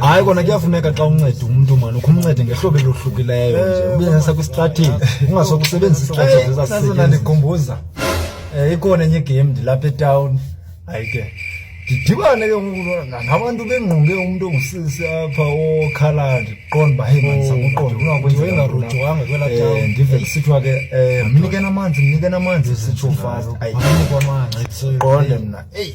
hayi kona kuyafuneka xa unceda umntu mani ukho umncede ngehlobo elohlukileyo nje eh, ubenesa kwistrategy ungasoke usebenzisa istrategy ezasasona ndikhumbuza um ikhona enye igame ndilapha etawuni hayi ke ndidibane ke nabantu bengqonge umntu ongusisi apha okhala ndiqonda uba heyi mani sakuqonda oh, ungakwenzeingarojwanga kwela eh, tawuni ndive kusithiwa ke um mnikeni amanzi mnikeni amanzi sitsho fast ayinikwa amanzi qonde mna eyi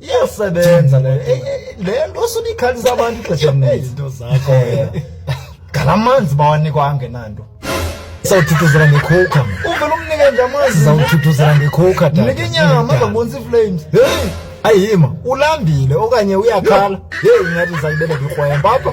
iyasebenza leyo Eh, eh, le nto osuba ikhalisa abantu ixesha elininzi izinto zakho wena ngala manzi bawanikwa angenanto sawuthuthuzela ngekhowukha mna uvele umnike nje amazi zawuthuthuzela ngekhowukha tata. mnike inyama Ndinedada. azabonisa iflames heyi ayima ulambile okanye uyakhala heyi ingathi ndizayibeleka ikrwempa apha